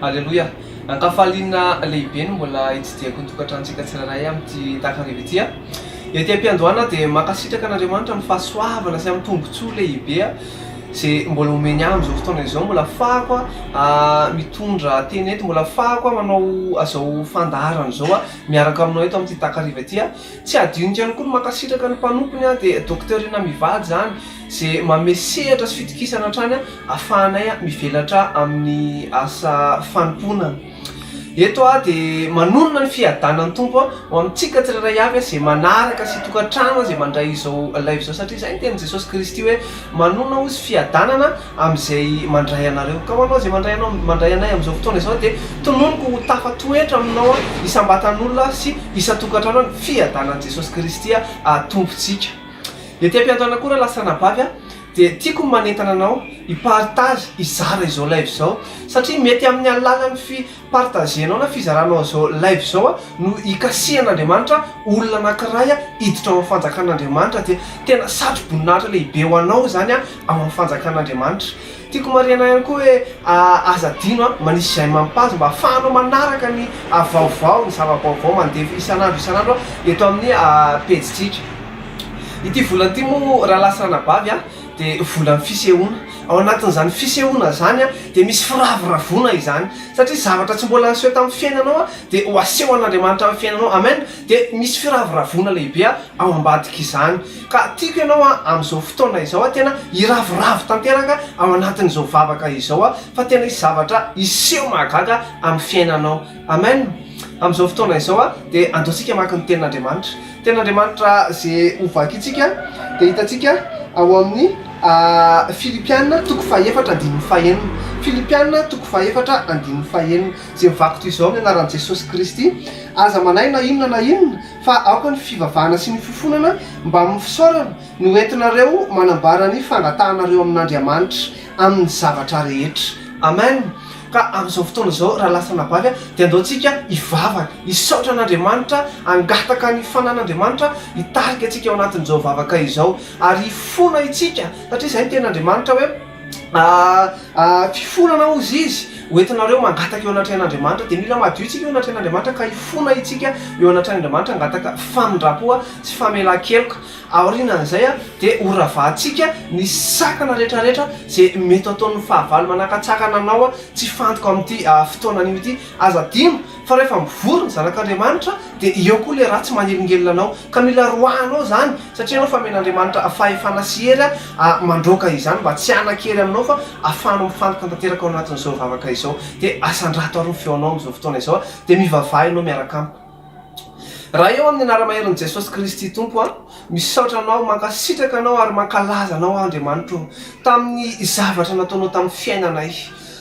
Aleloia! Ankafaliana lehibe ny mbola hitsidihako ny tokantranontsika tsirairay amin'ity takariva ity. Ety am-piandohana aho dia mankasitraka an'Andriamanitra amin'ny fahasoavana sy amin'ny tombontsoa lehibe. Ze mbola omeny ahy amin'izao fotoana izao mbola ahafahako mitondra tena eto, mbola ahafahako manao izao fandaharana izao miaraka aminao eto amin'ity takariva ity. Tsy hadinoko ihany koa ny mankasitraka ny mpanompony dia Docteur Rinah Mivady izany izay manome sehatra sy fitokisana hatrany ahafahanay mivelatra amin'ny asa fanompoana. Eto aho dia manonona ny fiadanan'ny Tompo ho amintsika tsirairay avy izay manaraka sy tokantrano izay mandray izao live izao satria izay ny tenin'i Jesosy Kristy hoe manonona hozy fiadanana amin'izay mandray anareo. Ka ho anao izay mandray anao mandray anay amin'izao fotoana izao dia tononiko ho tafatoetra aminao isam-batan'olona sy isan-tokantrano ny fiadanan'i Jesosy Kristy Tompontsika. Ety am-piandohana koa raha lahy sy anabavy a! Dia tiako ny manentana anao hi partage, hizara izao live izao satria mety amin'ny alalan'ny fi partager-nao na fizaranao izao live izao no hikasihan'Andriamanitra olona anankiray hiditra ao amin'ny fanjakan'Andriamanitra dia tena satro-boninahitra lehibe ho anao izany ao amin'ny fanjakan'Andriamanitra. Tiako marihana ihany koa hoe aza adino manisy j'aime amin'ny page mba ahafahanao manaraka ny vaovao, ny zava-baovao mandefa isan'andro isan'andro eto amin'ny pejintsika. Ity volana ity moa raha lasa anabavy a de volan'ny fisehoana ao anatin'izany fisehoana zany a de misy firavoravoana izany satria zavatra tsy mbola niseho tamin'ny fiainanao a de ho aseho an'Andriamanitra amin'ny fiainanao amen de misy firavoravoana lehibe a ao ambadik'izany ka tiako ianao a amin'izao fotoana izao a tena hiravoravo tanteraka ao anatin'izao vavaka izao a fa tena hisy zavatra hiseho mahagaga amin'ny fiainanao Amen! Amin'izao fotoana izao dia andeontsika hamaky ny Tenin'Andriamanitra. Tenin'Andriamanitra izay ho vakintsika dia hitantsika ao amin'ny Filipiana toko fahefatra andininy fahenina. Filipiana toko fahefatra andininy fahenina. Izay mivako toy izao amin'ny anaran'i Jesosy Kristy, aza manahy na inona na inona fa aoka ny fivavahana sy ny fifonana mbamin'ny fisaorana no hoentinareo manambara ny fangatahanareo amin'Andriamanitra amin'ny zavatra rehetra. Amen! Ka amin'izao fotoana izao, raha lasa nabavy, dia andeontsika hivavaka, hisaotra an'Andriamanitra, hangataka ny fanan'Andriamanitra hitarika antsika ao anatin'izao vavaka izao. Ary hifona itsika, satria izay ny tenin'Andriamanitra hoe, Fifonana hozy Izy, hoentinareo mangataka eo anatrehan'Andriamanitra. Dia mila madio itsika eo anatrehan'Andriamanitra, ka hifona itsika eo anatrehan'Andriamanitra hangataka famindram-po sy famelan-keloka. Aorianan'izay dia horavahantsika ny sakana rehetrarehetra izay mety ho ataon'ny fahavalo manakatsakana anao tsy fantiko amin'ity fotoana anio ity. Aza adino fa rehefa mivory ny zanak'Andriamanitra dia eo koa ilay ratsy manelingelina anao ka mila roahanao izany satria ianao famen'Andriamanitra fahefana sy hery mandroaka izany mba tsy hanan-kery aminao fa ahafahanao mifantoka tanteraka ao anatin'izao vavaka izao. Dia asandrato ary ny feonao amin'izao fotoana izao dia mivavaha ianao miaraka amiko. Raha eo amin'ny anara-maherin'i Jesosy Kristy Tompo aho, misaotra Anao, mankasitraka Anao ary mankalaza Anao aho Andriamanitra ô, tamin'ny zavatra nataonao tamin'ny fiainanay.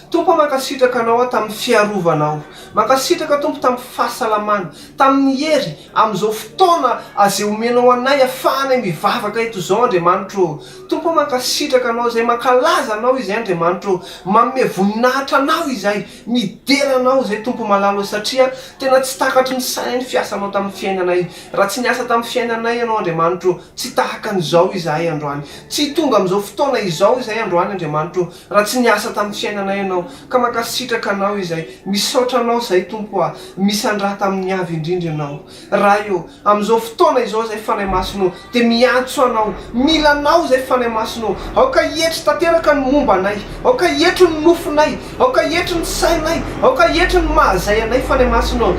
Tompo ô, mankasitraka Anao aho tamin'ny fiarovanao. Mankasitraka Tompo tamin'ny fahasalamana, tamin'ny hery, amin'izao fotoana azay omenao anay afahanay mivavaka eto izao Andriamanitra ô. Tompo ô, mankasitraka Anao izay, mankalaza Anao izay Andriamanitra ô, manome voninahitra Anao izay. Midera anao izay Tompo Malala o Satria tena tsy takatry ny saina ny fiasanao tamin'ny fiainanay Raha tsy niasa tamin'ny fiainanay ianao Andriamanitro o Tsy tahaka an'izao izahay androany Tsy hitonga amin'izao fotoana izao izahay androany Andriamanitro o Raha tsy niasa tamin'ny fiainanay ianao Ka mankasitraka anao izay Misaotra anao izay Tompo a Misandrata amin'ny avy indrindra ianao Ray ô, amin'izao fotoana izao izay Fanahy Masina ô, dia miantso anao, mila anao izay Fanahy Masina ô, aoka hietry tanteraka ny momba anay, aoka hietry ny nofinay, aoka hietry ny sainay, aoka hietry ny mahazay anay Fanahy Masina ô,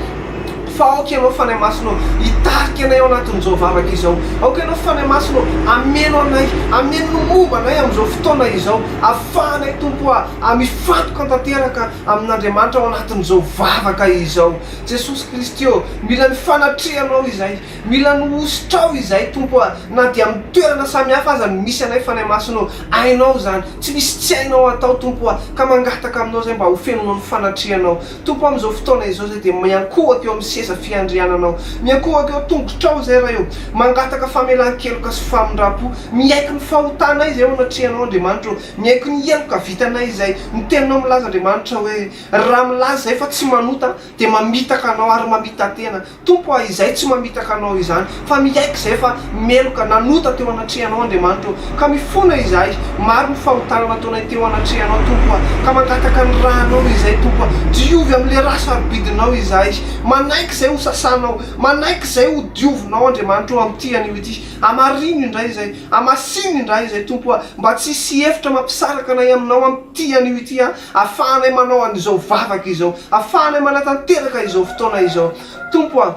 fa aoka Ianao Fanahy Masina ô, hitarika anay ao anatin'izao vavaka izao, aoka Ianao Fanahy Masina ô, hameno anay, hameno ny momba anay amin'izao fotoana izao, afahanay Tompo a, mifantoka tanteraka amin'Andriamanitra ao anatin'izao vavaka izao. Jesosy Kristy ô! Mila ny fanatrehanao izay. Mila ny hosotrao izay, Tompo a! Na dia amin'ny toerana samy hafa aza no misy anay, Fanahy Masina ô! Hainao izany. Tsy misy tsy hainao hatao, Tompo a! Ka mangataka aminao izay mba hofenonao ny fanatrehanao. Tompo a, amin'izao fotoana izao izay dia miankohoka eo amin'ny seza fiandriananao. Miankohoka eo an-tongotrao izay, Ray ô! Mangataka famelan-keloka sy famindram-po. Miaiky ny fahotanay izay eo anatrehanao, Andriamanitra ô! Miaiky ny heloka vitanay izay. Ny Teninao milaza, Andriamanitra, hoe. Raha milaza izay fa tsy manota dia mamitaka anao ary mamita-tena. Tompo a, izay tsy mamitaka anao izany, fa miaiky izay fa meloka nanota teo anatrehanao Andriamanitra ô, ka mifona izahay, maro ny fahotana nataonay teo anatrehanao Tompo a, ka mangataka ny ra anao izay Tompo a, diovy amin'ilay ra sarobidinao izahay, manaiky izay ho sasanao, manaiky izay ho diovinao Andriamanitra ô amin'ity anio ity, hamarino indray izay, hamasino indray izay Tompo a, mba tsy hisy hevitra mampisaraka anay aminao amin'ity anio ity a, Afahanay manao an'izao vavaka izao. Afahanay manatanteraka izao fotoana izao. Tompo a,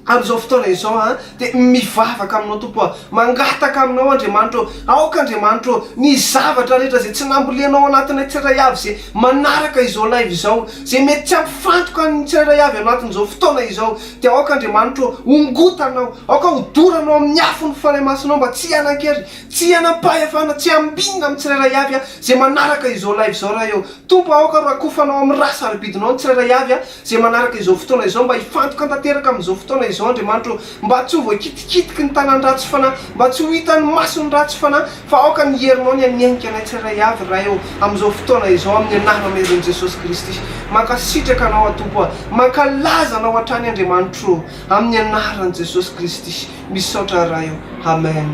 amin'izao fotoana izao a, dia mivavaka Aminao, Tompo a. Mangataka Aminao, Andriamanitra ô. Aoka, Andriamanitra ô, ny zavatra rehetra izay tsy nambolenao anatinay tsirairay avy izay manaraka izao live izao, izay mety tsy hampifantoka an'ny tsirairay avy anatin'izao fotoana izao, dia aoka, Andriamanitra ô, hongotanao. Aoka hodoranao amin'ny afon'ny Fanahy Masinao mba tsy hihanan-kery. Tsy hanam-pahefana tsy ambinina amin'ny tsirairay avy izay manaraka izao live izao raha eo. Tompo aoka rakofanao amin'ny rà sarobidinao ny tsirairay avy izay manaraka izao fotoana izao mba hifantoka tanteraka amin'izao fotoana izao Andriamanitra ô. Mba tsy ho voakitikitiky ny tanan-dratsy fanahy, mba tsy ho hitan'ny mason'ny ratsy fanahy fa aoka ny herinao ny hanenika anay tsirairay avy Ray ô amin'izao fotoana izao amin'ny anarana iron'i Jesosy Kristy. Mankasitraka Anao aho Tompo a. Mankalaza Anao hatrany Andriamanitra ô. Amin'ny anaran'i Jesosy Kristy. Misaotra Ray o! Amen!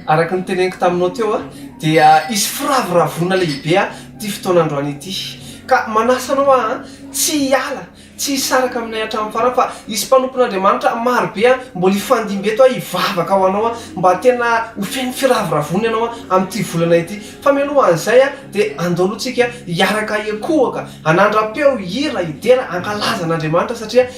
Araka ny teneniko taminao teo dia hisy firavoravoana lehibe ity fotoana androany ity. Ka manasa anao aho tsy hiala, tsy hisaraka aminay hatramin'ny farany fa hisy mpanompon'Andriamanitra maro be mbola hifandimby eto hivavaka ho anao mba tena ho feno firavoravoana ianao amin'ity volana ity. Fa mialoha an'izay dia andao aloha tsika hiaraka hiekohoka, hanandra-peo, hihira, hidera, hankalaza an'Andriamanitra satria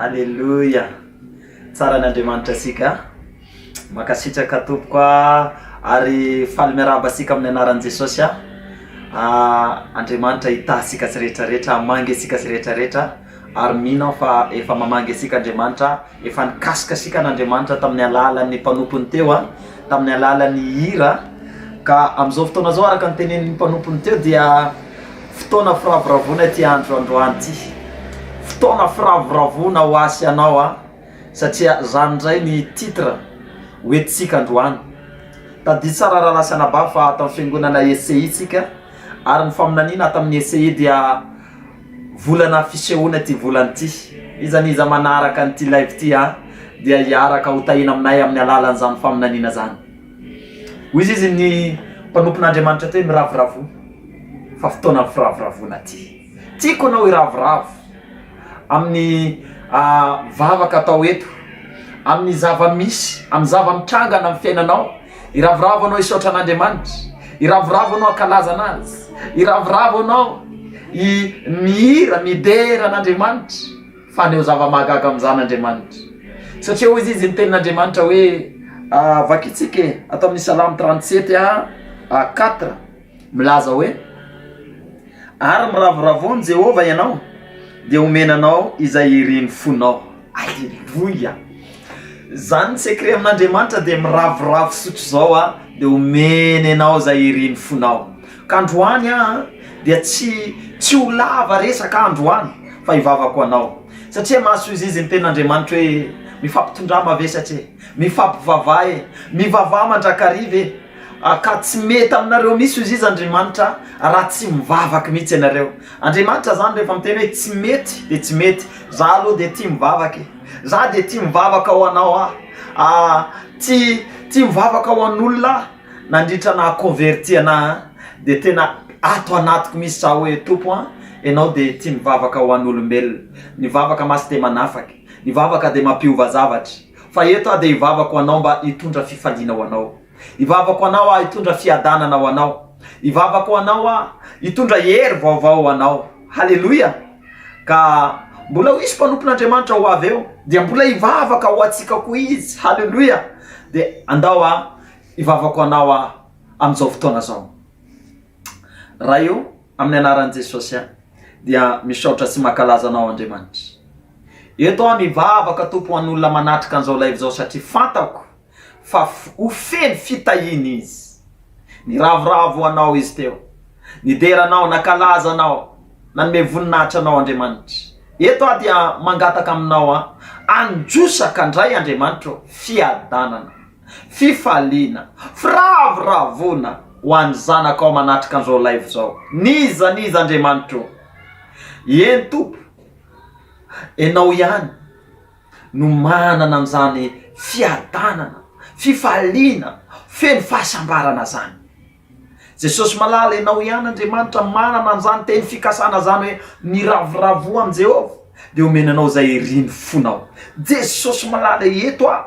Aleloia! Tsara ny Andriamanitra antsika a! Mankasitraka tompoko a! Ary faly miarahaba antsika amin'ny anaran'i Jesosy a! Andriamanitra hitahy antsika sy rehetra rehetra, hamangy antsika sy rehetra rehetra. Ary mino aho fa efa mamangy antsika Andriamanitra, efa nikasika antsika an'Andriamanitra tamin'ny alalan'ny mpanompony teo a, tamin'ny alalan'ny hira, ka amin'izao fotoana izao araka ny tenenin'ny mpanompony teo dia fotoana firavoravoana ity andro androany ity, fotoana firavoravoana ho ahy sy anao a, satria zany indray ny titre ho entintsika androany. Tadidio tsara rahalahy sy anabavy fa ato amin'ny fiangonana ECI tsika, ary ny faminaniana ato amin'ny ECI dia. Volana fisehoana ity volana ity. Iza n'iza manaraka an'ity live ity a dia hiaraka ho tahiana aminay amin'ny alalan'izany faminaniana izany. Hoy izy izy ny mpanompon'Andriamanitra teo hoe miravoravoa fa fotoanan'ny firavoravoana ity. Tiako ianao hiravoravo amin'ny vavaka atao eto, amin'ny zava-misy, amin'ny zava-mitranga any amin'ny fiainanao. Iravoravo anao hisaotra an'Andriamanitra, iravoravo anao hankalaza anazy, iravoravo anao hi mihira, midera an'Andriamanitra, fa haneho zava-mahagaga amin'izany Andriamanitra. Satria hoy izy, izy ny tenin'Andriamanitra hoe, vakitsika e, ato amin'ny Salamo trente sept a quatre. Milaza hoe, Ary miravoravoa amin'i Jehovah ianao, dia homena anao izay irin'ny fonao. Aleloia! Izany ny secret amin'Andriamanitra dia miravoravo fisotro izao aho dia homeny anao izay irin'ny fonao. Ka androany aho dia tsy tsy ho lava resaka aho androany fa hivavaka ho anao satria mahasoa izy izy ny tenin'Andriamanitra hoe, Mifampitondrà mavesatra e, mifampivavaha e, mivavaha mandrakariva e. Ah ka tsy mety aminareo mihitsy hoy izy Andriamanitra raha tsy mivavaka mihitsy ianareo. Andriamanitra zany rehefa miteny hoe tsy mety de tsy mety. Za aloha de tia mivavaka e. Za de tia mivavaka ho anao aho. Ah tia tia mivavaka ho an'olona aho nandritra naha converti anahy an. De tena ato anatiko mihitsy za hoe Tompo an, Ianao de tia mivavaka ho an'olombelona. Ny vavaka masy de manafaka. Ny vavaka de mampiova zavatra. Fa eto aho dia hivavaka ho anao mba hitondra fifaliana ho anao. Hivavaka ho anao aho hitondra fiadanana ho anao. Hivavaka ho anao aho hitondra hery vaovao ho anao. Haleloia! Ka mbola ho hisy mpanompon'Andriamanitra ho avy eo, dia mbola hivavaka ho antsika koa Izy. Haleloia! Dia andao aho hivavaka ho anao aho amin'izao fotoana izao. Ray ô, amin'ny anaran'i Jesosy aho dia misaotra sy mankalaza Anao Andriamanitra. Eto aho mivavaka Tompo ho an'olona manatrika an'izao live izao satria fantako fa ho feno fitahiana izy. Niravoravo ho Anao izy teo, nidera Anao, nankalaza Anao, nanome voninahitra Anao Andriamanitra. Eto aho dia mangataka aminao aho, androso ka ndray Andriamanitra ô, fiadanana. Fifaliana, firavoravoana ho an'ny zanakao manatrika an'izao live izao. N'iza n'iza Andriamanitro ô! Eny Tompo, Ianao ihany no manana an'izany fiadanana, fifaliana, feno fahasambarana izany. Jesosy malala ianao ihany Andriamanitra manana an'izany teny fikasana izany hoe miravoravoa amin'i Jehovah dia omeny anao izay irin'ny fonao. Jesosy malala eto a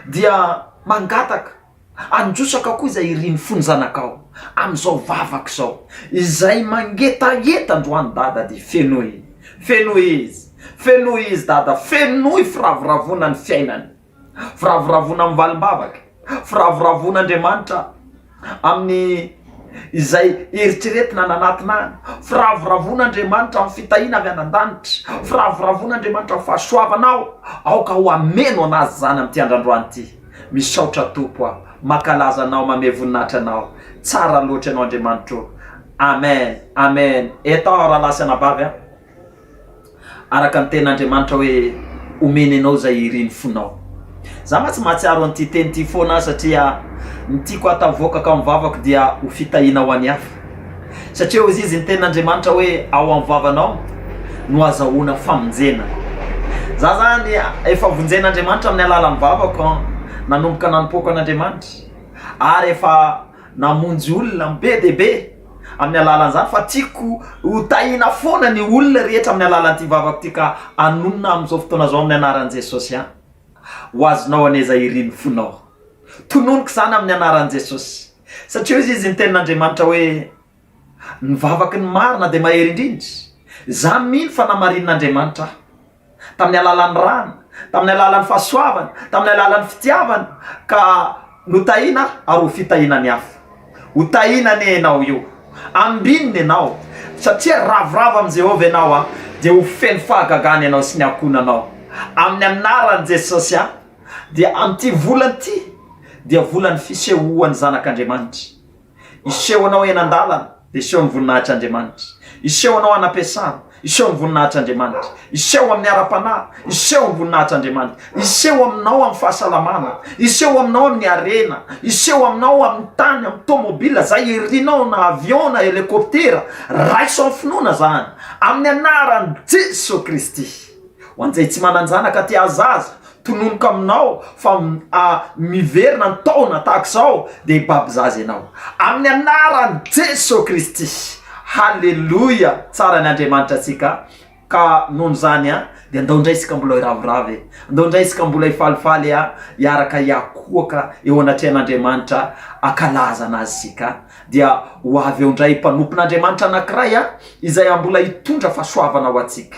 dia mangataka handrosaka koa izay irin'ny fon'ny zanakao amin'izao vavaka izao. Izay mangetaheta androany Dada dia fenoy, fenoy izy, fenoy izy Dada, fenoy firavoravoana ny fiainany. Firavoravoana amin'ny valim-bavaka, firavoravoana Andriamanitra amin'ny izay eritreretina any anatiny any, firavoravoana Andriamanitra amin'ny fitahiana avy any an-danitra, firavoravoana Andriamanitra amin'ny fahasoavanao, aoka ho hameno an'azy izany amin'ity andrandroany ity. Misaotra Tompo aho, mankalaza Anao, mamehy voninahitra Anao, tsara loatra Ianao Andriamanitro. Amen, Amen, entao aho rahalahy sy anabavy a. Araka ny tenin'Andriamanitra hoe omeny anao izay irin'ny fonao. Za mantsy mahatsiaro an'ity teny ity foana aho satria ny tiako hatavoakako amin'ny vavako dia ho fitahiana ho an'ny hafa. Satria hoy izy ny tenin'Andriamanitra hoe ao amin'ny vavanao no azahoana famonjena. Za zany efa vonjen'Andriamanitra amin'ny alalan'ny vavako nanomboka nanompoako an'Andriamanitra ary efa Namonjy olona be dia be amin'ny alalan'izany fa tiako ho tahiana foana ny olona rehetra amin'ny alalan'ity vavako ity ka hanonona amin'izao fotoana izao amin'ny anaran'i Jesosy an! ho azonao an'aiza ery ny fonao. Tononiko izany amin'ny anaran'i Jesosy satria hoy izy ny tenin'Andriamanitra hoe. Ny vavaky ny marina dia mahery indrindra. Izaho mino fa namarinin'Andriamanitra ahy. Tamin'ny alalan'ny rany, tamin'ny alalan'ny fahasoavany, tamin'ny alalan'ny fitiavany ka notahina aho ary ho fitahiana ny hafa. Ho tahina anie ianao io. Ambinina ianao, satria ravoravo amin'i Jehovah ianao aho, dia ho feno fahagagana ianao sy ny ankohonanao. Amin'ny anaran'i Jesosy aho, dia amin'ity volana ity dia volan'ny fisehoan'ny Zanak'Andriamanitra. Hiseho anao eny an-dalana, dia hiseho ny voninahitr'Andriamanitra. Hiseho anao any am-piasana, hiseho ny voninahitr'Andriamanitra. Hiseho amin'ny ara-panahy, hiseho ny voninahitr'Andriamanitra. Hiseho aminao amin'ny fahasalamana, hiseho aminao amin'ny harena, hiseho aminao amin'ny tany, amin'ny tômôbila, izay irinao na avion na helikôptera. Raiso amin'ny finoana izany, amin'ny anaran'i Jesoa Kristy. Ho an'izay tsy manan-janaka te hahazaza, tononiko aminao fa miverina ny taona tahaka izao dia hibaby zaza ianao. Amin'ny anaran'i Jesoa Kristy. Haleloia! Tsara ny Andriamanitra antsika ka noho izany a dia andao indray isika mbola hiravoravo e! Andao indray isika mbola hifalifaly a! Hiaraka hiakohoka eo anatrehan'Andriamanitra akalaza anazy isika dia ho avy eo indray mpanompon'Andriamanitra anankiray a izay mbola hitondra fahasoavana ho antsika.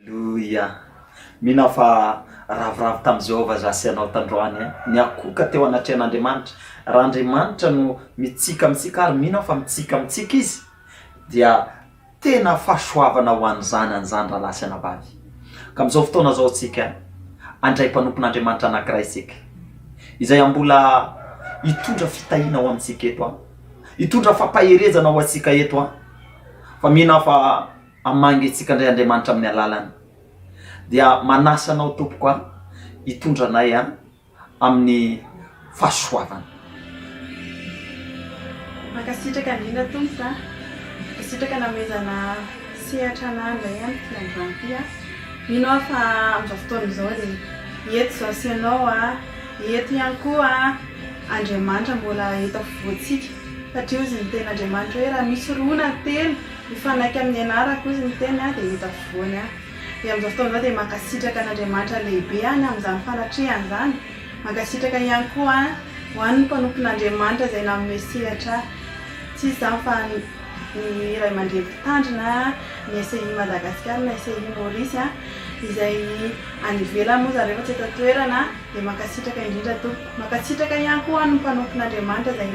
Aleloia! Mino aho fa ravoravo tamin'i Jehovah aza sy ianao tandroany e! Niakoka teo anatrehan'Andriamanitra. Raha Andriamanitra no mitsiky amintsika, ary mino aho fa mitsiky amintsika izy, dia tena fahasoavana ho an'ny zanany izany, rahalahy sy anabavy. Ka amin'izao fotoana izao isika handray mpanompon'Andriamanitra anankiray isika, izay hambola hitondra fitahiana ho amintsika eto, hitondra fampaherezana ho antsika eto. Fa mino aho fa Hamangy antsika indray Andriamanitra amin'ny alalany. Dia manasa anao tompoko an, hitondra anay an amin'ny fahasoavany. Mankasitraka indrindra tompoko an. Mankasitraka nanomezana sehatra anah indray an ity androany ity an. Mino aho fa amin'izao fotoana izao dia eto izao sy ianao an, eto ihany koa Andriamanitra mbola eto afovoantsika. Satria hozy ny tenin'Andriamanitra hoe raha misy roa na telo Mifanaiky amin'ny ianarako izy miteny aho dia hita voany aho. Dia amin'izao fotoana izao dia mankasitraka an'Andriamanitra lehibe any amin'izany fanatrehany izany. Mankasitraka ihany koa ho an'ny mpanompon'Andriamanitra izay nanome sehatra ahy. Tsy iza izany fa ny ray aman-dreny mpitandrina ny SEI Madagascar na SEI Maorisy izay any ivelany moa zareo fa tsy eto an-toerana dia mankasitraka indrindra tompoko. Mankasitraka ihany koa ho an'ny mpanompon'Andriamanitra izay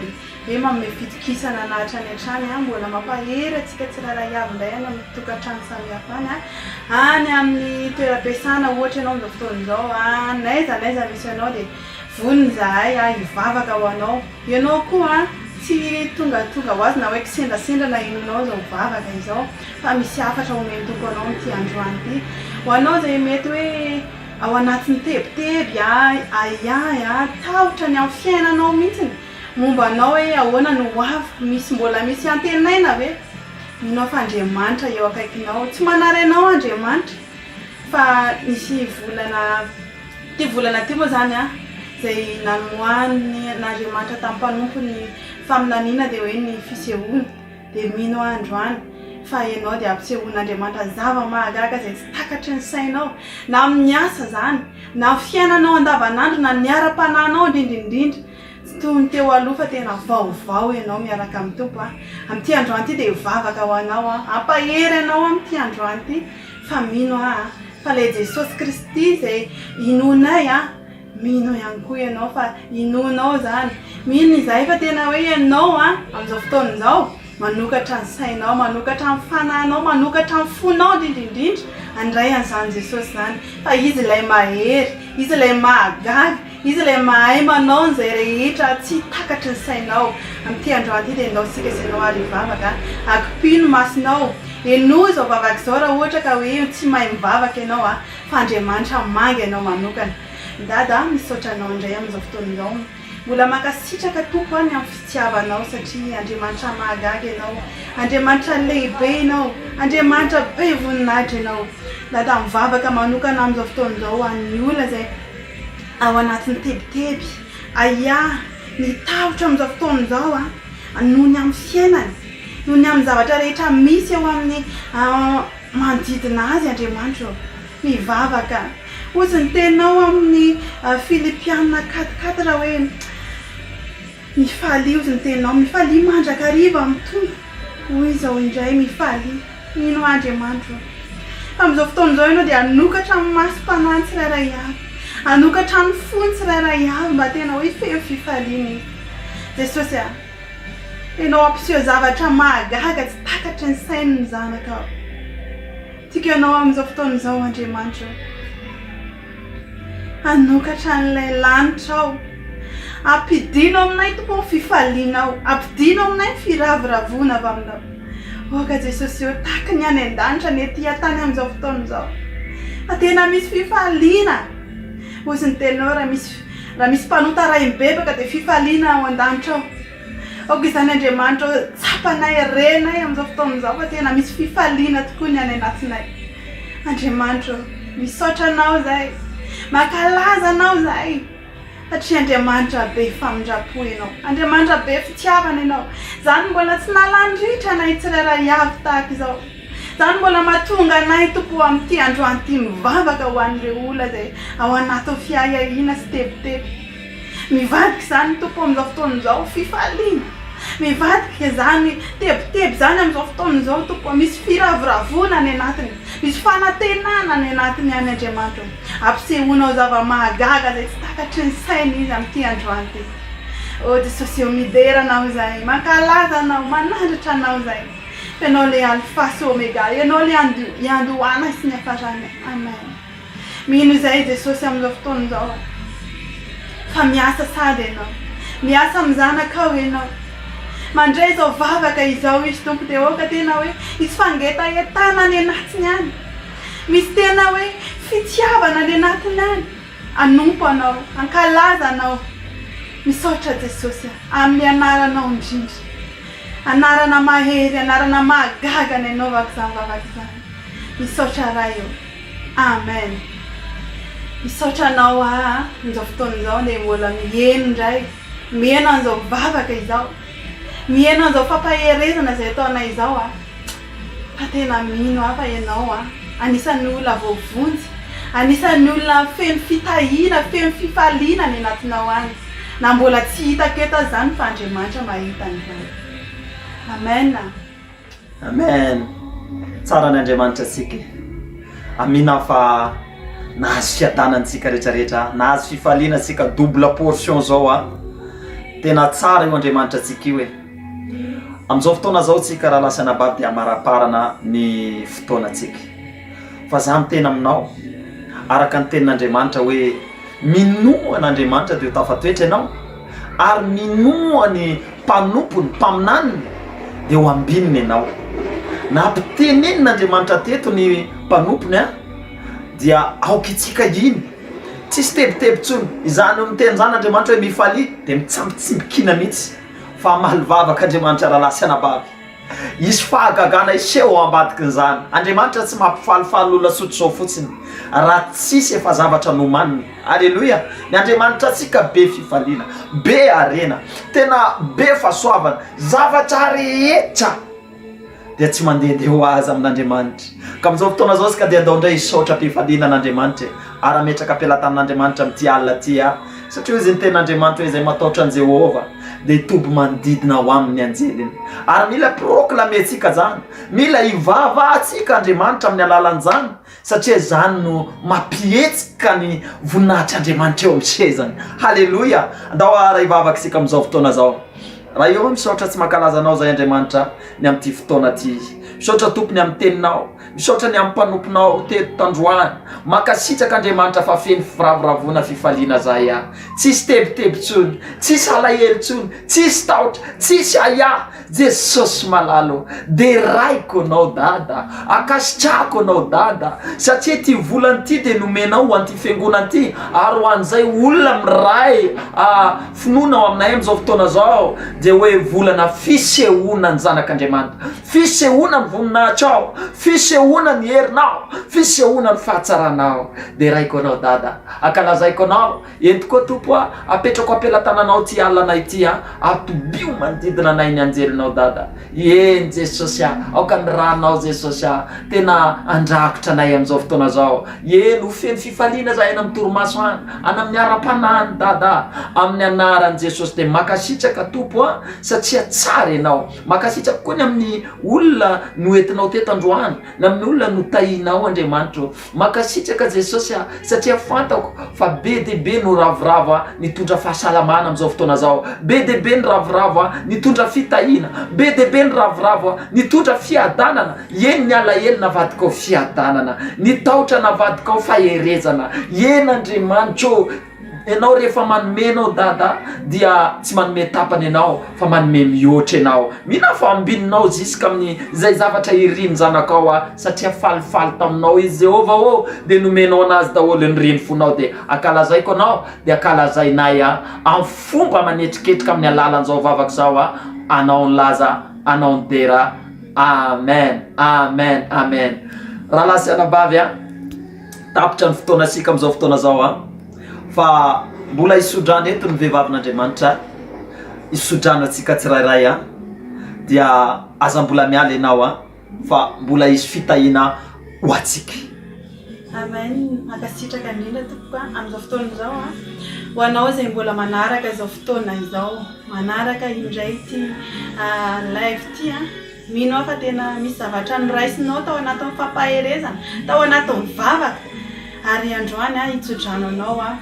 Dia manome fitokisana na hatrany hatrany, mbola mampahery antsika tsirairay avy indray any amin'ny tokantrano samihafa any, any amin'ny toeram-piasana ohatra ianao amin'izao fotoana izao, n'aiza n'aiza misy anao dia vonona izahay hivavaka ho anao. Ianao koa tsy tongatonga ho azy na hoe kisendrasendra na inona anao izao vavaka izao fa misy hafatra homen'ny Tompo anao amin'ity androany ity. Ho anao izay mety hoe ao anatin'ny tebiteby ahiahy, tahotra ny amin'ny fiainanao mihitsy, Momba anao hoe ahoana no hoaviko? Misy mbola misy antenaina ve? Mino aho fa Andriamanitra eo akaikinao. Tsy manary anao Andriamanitra fa nisy volana, ity volana ity moa zany an, izay nanomoahan'Andriamanitra tamin'ny mpanompo ny faminaniana dia hoe ny fisehoana, dia mino aho androany fa ianao dia ampisehoan'Andriamanitra zava-mahagaga izay tsy takatry ny sainao, na amin'ny asa izany, na fiainanao andavanandro, na ny ara-panahinao indrindra indrindra. Tsy toy ny teo aloha fa tena vaovao ianao miaraka amin'ny Tompo a! Amin'ity androany ity dia hivavaka ho anao aho hampahery anao amin'ity androany ity fa mino aho a! Fa ilay Jesosy Kristy izay inoanay a! Mino ihany koa ianao fa inoanao izany. Mino izahay fa tena hoe ianao a! Amin'izao fotoana izao manokatra ny sainao, manokatra ny fanahinao, manokatra ny fonao indrindra indrindra handray an'izany Jesosy izany fa Izy ilay mahery, Izy ilay mahagaga. Izy ilay mahay manao an'izay rehetra tsy takatry ny sainao. Amin'ity androany ity dia ndao isika sy ianao ary hivavaka. Akipio ny masonao. Henoy izao vavaka izao raha ohatra ka hoe tsy mahay mivavaka ianao fa Andriamanitra hamangy anao manokana. Dada a, misaotra anao indray amin'izao fotoana izao. Mbola mankasitraka Tompo aho ny amin'ny fitiavanao satria Andriamanitra mahagaga ianao. Andriamanitra lehibe ianao. Andriamanitra be voninahitra ianao. Dada mivavaka manokana amin'izao fotoana izao ho an'ny olona izay. Ao anatin'ny tebiteby, Ahiah, ny tahotra amin'izao fotoana izao an, noho ny amin'ny fiainany, noho ny amin'ny zavatra rehetra misy eo amin'ny manodidina azy Andriamanitra ô. Mivavaka. Hozy ny teninao amin'ny Filipiana quat quatre hoe. Mifalio ny teninao, mifalio mandrakariva amin'ny Tompo, hoy izao indray, mifalio, mino Andriamanitro fa amin'izao fotoana izao ianao dia hanokatra ny masom-panahiny tsirairay avy, hanokatra ny fony tsirairay avy mba tena hoe feno fifaliana e! Jesosy a! Ianao hampiseho zavatra mahagaga tsy takatry ny sain'ny zanakao. Tiako ianao amin'izao fotoana izao Andriamanitro. Hanokatra an'ilay lanitra aho. Ampidino aminay Tompo ny fifalianao. Ampidino aminay ny firavoravoana avy aminao. Aoka Jesosy ô, tahaky ny any an-danitra ny ety an-tany amin'izao fotoana izao. Fa tena misy fifaliana. Hoy ny Tenao, raha misy mpanota arahim-bebaka dia fifaliana ao an-danitra ao. Aoka izany Andriamanitra ô, tsapanay, renay amin'izao fotoana izao fa tena misy fifaliana tokoa ny any anatinay. Andriamanitra ô, misaotra Anao izahay, mankalaza Anao izahay, satria Andriamanitra be famindram-po Ianao, Andriamanitra be fitiavana Ianao. Izaho no mbola tsy nalan-dritra anay tsirairay avy tahaka izao. Izaho no mbola mahatonga anay, Tompo ô, amin'ity androany ity mivavaka ho an'ireo olona izay ao anatin'ny fiahiahiana sy tebiteby. Mivadika izany ny Tompo amin'izao fotoana izao, fifaliana. Mivadika izany tebiteby izany amin'izao fotoana izao, Tompo ô. Misy firavoravoana any anatiny. Misy fanantenana any anatiny any, Andriamanitra ô. Ampisehoanao zava-mahagaga izay tsy takatry ny sainy izy amin'ity androany ity. Ô Jesosy ô, midera anao izahay, mankalaza anao, manandratra anao izahay. Fa ianao ilay Alfa sy Omega, ianao ilay iandohanay sy ny iafaranay. Amen. Mino izay i Jesosy amin'izao fotoana izao fa miasa sady ianao. Miasa amin'ny zanakao ianao. Mandray izao vavaka izao izy Tompo dia aoka tena hoe hisy fangetahetana any anatiny any. Misy tena hoe fitiavana any anatiny any. Hanompo anao, hankalaza anao. Misaotra Jesosy a, amin'ny anaranao indrindra. Anarana mahery, anarana mahagaga ny anaovako izany vavaka izany. Misaotra Ray ô. Amen misaotra anao aa amin'izao fotoana izao dia mbola miheno indray miheno an'izao vavaka izao miheno an'izao fampaherezana izay ataonay izao aa fa tena mino aho fa ianao aa anisan'ny olona voavonjy anisan'ny olona feno fitahiana feno fifaliana any anatinao any na mbola tsy hitako eto aza izany fa Andriamanitra mahita an'izany amen a Amen tsara ny Andriamanitra antsika e Amina fa nahazo fiadanana antsika rehetra rehetra nahazo fifaliana antsika double portion zao a tena tsara io Andriamanitra antsika io e amin'izao fotoana zao tsika raha lasa anabavy dia amaraparana ny fotoana antsika fa za miteny aminao araka ny tenin'Andriamanitra hoe minoa an'Andriamanitra dia ho tafatoetra ianao Ary minoa ny mpanompony, mpaminaniny, dia ho ambininy ianao. Nampitenenin' Andriamanitra teto ny mpanompony an, dia aoka itsika hino. Tsisy tebiteby intsony. Izany hoe miteny izany Andriamanitra hoe mifalia dia mitsambitsimbikina mihitsy fa hamaly vavaka Andriamanitra rahalahy sy anabavy. Hisy fahagagana hiseho ao ambadikin'izany. Andriamanitra tsy mampifalifaly olona sotr'izao fotsiny, raha tsisy efa zavatra nomaniny. Aleloia! Ny Andriamanitra antsika be fifaliana, be harena, tena be fahasoavana. Zavatra rehetra dia tsy mandehandeha ho azy amin'Andriamanitra. Ka amin'izao fotoana izao isika dia andao indray hisaotra am-pifaliana an'Andriamanitra e! Ary hametraka am-pelatanin'Andriamanitra amin'ity alina ity aho. Satria hoy izy, Ny Tenin'Andriamanitra izay mataotra an'i Jehovah dia hitoby manodidina ho amin'ny anjeliny. Ary mila hi-proclamer-tsika izany, mila hivavahantsika Andriamanitra amin'ny alalan'izany, satria izany no mampihetsika ny voninahitr'Andriamanitra eo amin'ny sezany. Haleloia! Andao haharay vavaka isika amin'izao fotoana izao. Ray ô, misaotra tsy mankalaza Anao izahay Andriamanitra, ny amin'ity fotoana ity. Misaotra Tompo ny amin'ny Teninao, Misaotra ny am mpanomponao teto tandroany. Mankasitraka Andriamanitra fa feno firavoravoana fifaliana zahay aho. Tsisy tebiteby tsony. Tsisy alahelo tsony. Tsisy tahotra. Tsisy ahiahy. Jesosy malala ô. Derayko anao Dada. Ankasitrahako anao Dada. Satria ty volana ty dia nomenao ho anty fiangonana ty ary ho anzay olona miray ah finoana ao aminay am zao fotoana zao dia hoe volana fisehoana ny zanak'Andriamanitra. Fisehoana ny voninahitrao, fisehoana ny herinao, fisehoana ny fahatsaranao. Deraiko anao Dada, ankalazaiko anao, ento koa Tompo a, apetrako am-pelatananao ity alina ity a, atobio manodidina anay ny anjelinao Dada. Eny Jesosy a, aoka ny ranao Jesosy a, tena andrakotra anay amin'izao fotoana izao. Eny, ho feno fifaliana izahay any amin'ny torimaso any, any amin'ny ara-panahy any Dada a, amin'ny anaran'i Jesosy dia mankasitraka Tompo a, satria tsara Ianao. Mankasitraka koa ny amin'ny olona noentinao teto androany, ny amin'ny olona notahinao Andriamanitra o. Mankasitraka Jesosy aho satria fantako fa be dia be no ravoravo ahy nitondra fahasalamana amin'izao fotoana izao, be dia be ny ravoravo ahy nitondra fitahiana, be dia be ny ravoravo ahy nitondra fiadanana, eny ny alahelo navadikao fiadanana, ny tahotra navadikao faherezana, eny Andriamanitra o, Enao rehefa manome enao dada dia tsy manome tapany enao fa manome mihoatra enao mila fa ambininao ziska amin'ny zay zavatra irin'ny zanakao a satria falifaly taminao izy Jehovah ô dia nomenao anazy daholo ny reny fonao dia akalazaiko anao dia akalazainay a amin'ny fomba manetriketrika amin'ny alalan'izao vavaka izao a anao ny laza anao ny dera amen amen amen rahalahy sy anabavy a Tapitra ny fotoana isika amin'izao fotoana izao a! Fa mbola hisodrana eto ny vehivavin'Andriamanitra, hisodrana antsika tsirairay a! Dia aza mbola miala ianao a! Fa mbola hisy fitahiana ho antsika. Amen, mankasitraka indrindra tompoko a! Amin'izao fotoana izao a! Ho anao izay mbola manaraka izao fotoana izao, manaraka indray ity live ity a! Mino aho fa tena misy zavatra noraisinao tao anatin'ny fampaherezana, tao anatin'ny vavaka, ary androany aho hitso-drano anao aho.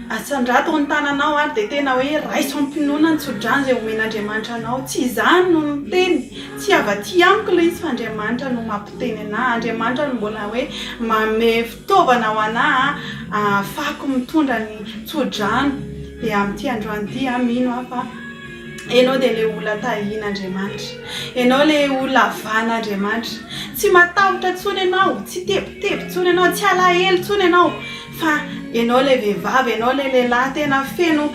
Asandrato ny tananao ary dia tena hoe raiso am-pinoana ny tso-drano izay omen'Andriamanitra anao. Tsy izaho no niteny, tsy avy aty amiko ilay izy fa Andriamanitra no mampiteny an'ahy. Andriamanitra no mbola hoe manome fitaovana ho an'ahy ahafahako mitondra ny tso-drano. Dia amin'ity androany ity aho mino aho fa. Ianao dia ilay olona tahian'Andriamanitra. Ianao ilay olona havan'Andriamanitra. Tsy matahotra intsony ianao, tsy tebiteby intsony ianao, tsy alahelo intsony ianao, fa ianao ilay vehivavy, ianao ilay lehilahy tena feno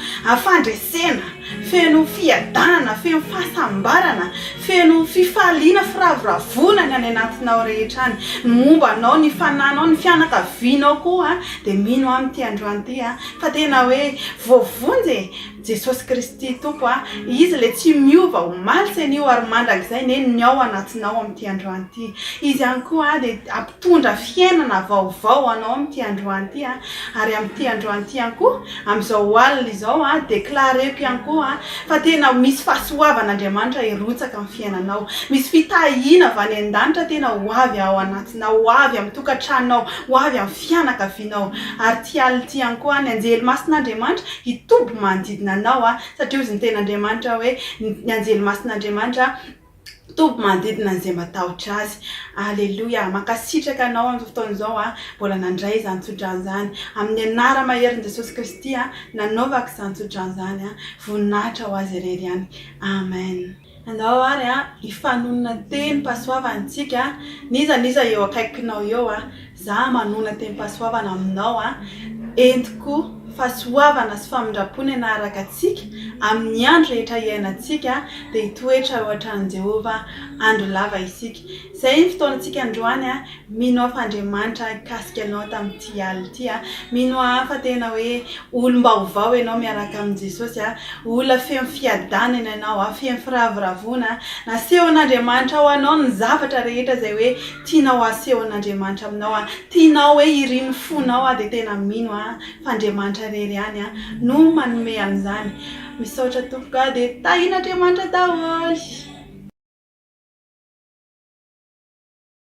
fandresena, feno fiadanana, feno fahasambarana, feno fifaliana, firavoravoana ny any anatinao rehetra any. Ny momba anao, ny fananao, ny fianakavianao koa dia mino aho amin'ity androany ity fa tena hoe voavonjy e! Jesosy Kristy Tompo a! Izy ilay tsy miova omaly sy anio ary mandrakizay Neny ny ao anatinao amin'ity androany ity. Izy ihany koa a dia hampitondra fiainana vaovao ho anao amin'ity androany ity a! Ary amin'ity androany ity ihany koa, amin'izao alina izao a, declareko ihany koa a, fa tena misy fahasoavan'Andriamanitra hirotsaka amin'ny fiainanao. Misy fitahiana avy any an-danitra tena ho avy ao anatinao, ho avy amin'ny tokantranonao, ho avy amin'ny fianakavianao. Ary ity alina ity ihany koa a, ny anjely masin'Andriamanitra, hitoby manodidina anao a, satria hozy ny ten'Andriamanitra hoe, ny anjely masin'Andriamanitra toby manodidina an'izay matahotra azy. Aleloia! Mankasitraka anao amin'izao fotoana izao a, mbola nandray izany tsodrano izany. Amin'ny anara-maherin'i Jesosy Kristy a, nanaovako izany tsodrano izany a. Voninahitra ho Azy irery ihany. Amen. Anao ary an, hifanonona tenim-pahasoavana isika an, n'iza n'iza eo akaikinao eo an, za manonona tenim-pahasoavana aminao an, entiko fahasoavana sy famindram-po ny hanaraka antsika amin'ny andro rehetra hiainantsika an, dia hitoetra eo an-tranon'i Jehovah andro lava isika. Izay ny fotoanantsika androany an, Mino aho fa Andriamanitra hikasika anao tamin'ity alina ity a! Mino aho fa tena hoe olom-baovao ianao miaraka amin'i Jesosy a! Olona feno fiadanana ianao a! Feno firavoravoana a! Nasehon'Andriamanitra ho anao ny zavatra rehetra izay hoe tianao hasehon'Andriamanitra aminao a! Tianao hoe irin'ny fonao a! Dia tena mino aho fa Andriamanitra irery ihany a! no manome an'izany. Misaotra tompoko a! Dia tahin'Andriamanitra daholo.